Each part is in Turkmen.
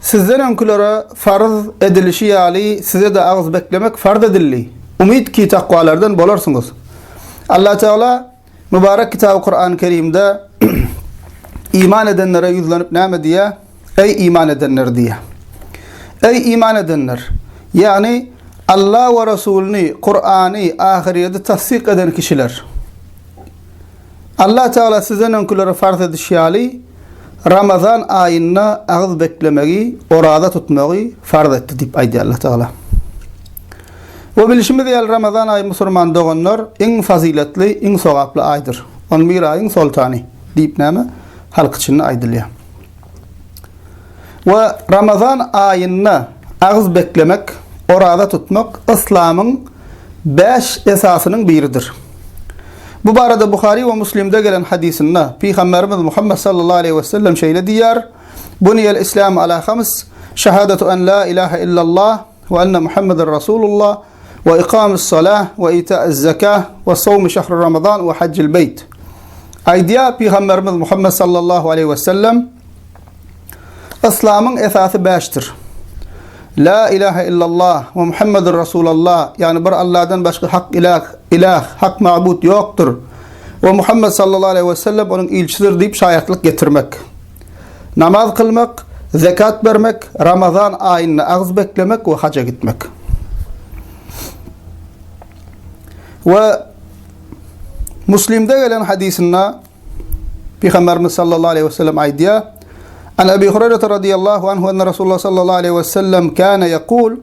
Sizden öňkülere farz edilişi ýaly size-de agyz beklemek farz edildi. Umyt ki takwalardan bolarsyňyz. Allatagala Mübarek Kitaby Kur'an-y Kerimde iman edenlere ýüzlenip näme diýýär? Eý iman edenler diýýär. Eý iman edenler! Ýagny Alla we Resulyny, Kur'any, ahyrýeti tassyk eden kişiler! Allah Tagala sizden öňkülere farz edişi ýaly, Ramazan aýynda agyz beklemegi, oraza tutmagy farz etdi diýip aýdýar Allah Tagala. We bilişimiz ýaly, Ramazan aýy musurman doganlar iň fazyletli, iň sogaply aýdyr. On bir aýyň soltany diýip näme? Halk içinde aýdylýar. we Ramazan aýynda agyz beklemek, oraza tutmak yslamyň bäş esasynyň biridir. Bu barada Buhary we Muslimde gelen hadysynda Pygamberimiz Muhammet sallallahu aleýhi we sellem şeýle diýýär, Buniyel islamu ala hams, şahadatu an la ilaha illallah we anna Muhammeden rasulullah, we ykamy salah we ita'iz zakah we sowmy şahri ramazan we hajjil beyt. Aýdýar Pygamberimiz Muhammed sallallahu aleyhi ve sellem Islamyň esasy bäşdir. La ilahe illallah ve Muhammedur Resulallah, yani bir Allah'dan başka hak ilah, ilah, hak mabut yoktur. Ve Muhammed sallallahu aleyhi ve sellem onun ilçidir deyip şayatlık getirmek. Namaz kylmak, zekat bermek, Ramazan aýynda agyz beklemek we haja gitmek. We Muslimde gelen hadisinde Peygamberimiz sallallahu aleyhi ve sellem aýdýar: "An Ebi Hureyre radıyallahu anhu enne Resulullah sallallahu aleyhi ve sellem kana yekul: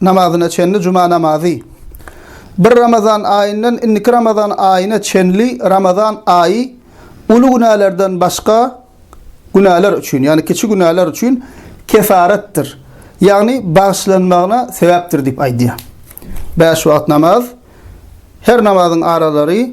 namazyna çenli juma namazy, bir Ramazan aýyndan indiki Ramazan aýyna çenli Ramazan aýy uly günälerden başga günäler üçin, ýagny kiçi günäler üçin kefaretdir, ýagny bagyşlanmagyna sebäpdir diýip aýdýar. Bäş wagt namaz, her namazyň aralary,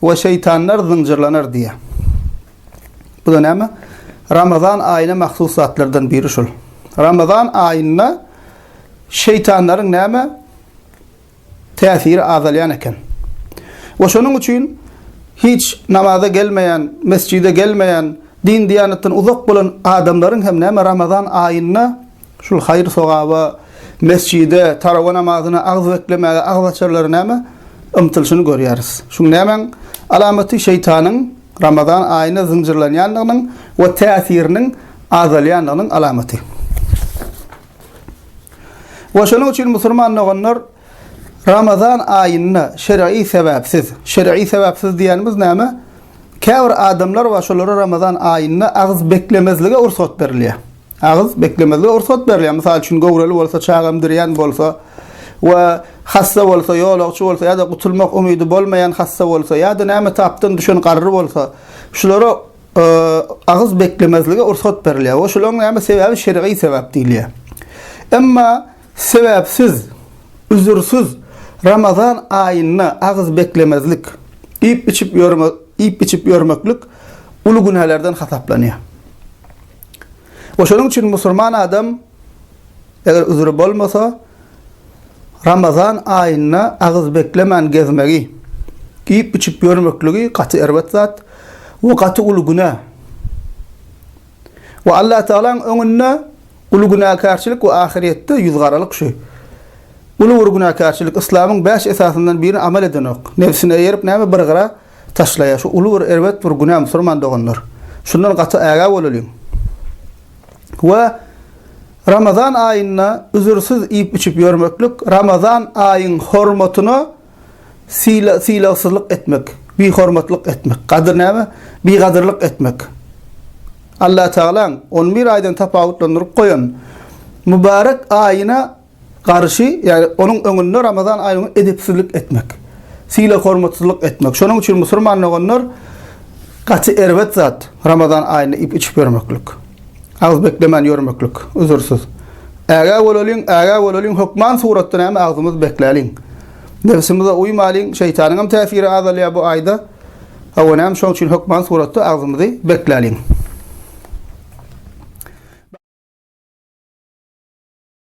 We şeýtanlar zynjyrlanar diýýär. Bu-da näme? Ramazan aýyna mahsus zatlardan biri şol. Ramazan aýynda şeýtanlaryň näme? Täsiri azalýan eken. We şonuň üçin hiç namaza gelmeýän, mesjide gelmeýän, din-diýanatdan uzak bolan adamlaryň hem näme? Ramazan aýynda Şul haýyr-sogaba, mesjide, tarawa namazyna agyz beklemäge agzaçarlary näme? Ymtylyşyny görýäris. Şuň nämäň alamaty? Şeýtanyň Ramazan aýyna zynjyrlanýandygynyň we täsiriniň azalýandygynyň alamaty. We şonuň üçin musulman doganlar Ramazan aýynda şer'i sebäpsiz, şer'i sebäpsiz diýenimiz näme? Käbir adamlar bar, şolara Ramazan aýynda agyz beklemezlige ursat berilýär. Agyz beklemezlige rugsat berilýär. Mysal üçin, göwreli bolsa, çaga emdirýän bolsa we hassa bolsa, ýolagçy bolsa ýa-da gutulmak umydy bolmaýan hassa bolsa ýa-da näme tapdan düşen garry bolsa, şulara agyz beklemezlige rugsat berilýär we şularyň näme sebäbi şergyý sebäp diýilýär. Emma sebäpsiz, üzürsiz Ramazan aýynda agyz beklemezlik, iýip-içip ýörme, iýip-içip ýörmeklik uly günälerden hasaplanýar. We şonuň üçin musurman adam eger üzri bolmasa Ramazan aýynda agyz beklemän gezmegi, iýip içip ýörmekligi gaty erbet zat we gaty uly güne. We Allatagalaň öňünde uly günäkärçilik we ahyrýetde ýüzgaralyk şu. Uly bir günäkärçilik, yslamyň bäş esasyndan birini amal edenok. Nebsine eýerip näme bir gyra. Taşlaýa şu uly bir erbet bir günä musurman doganlar. Şundan gaty ägä bolalyň. We Ramazan aýynda üzürsiz iýip içip ýörmeklik Ramazan aýyň hormatyna syla sylagsyzlyk etmek, bihormatlyk etmek, gadyr näme? Bigadyrlyk etmek. Allatagalaň on bir aýdan tapawutlandyryp goýan mübarek aýyna garşy, ýagny onuň öňünde Ramazan aýyna edepsizlik etmek, sylag-hormatsyzlyk etmek. Şonuň üçin musurman doganlar gaty erbet zat Ramazan aýynda iýip-içip ýörmeklik. Agyz beklemän ýörmeklik, üzürsiz. Ägä bolalyň, ägä bolalyň, hökman suratda näme agzymyzy bekläliň. Nebsimize uýmalyň, şeýtanyňam täsiri azalýar bu aýda. Hawa näme şonuň üçin hökman suratda agzymyzy bekläliň.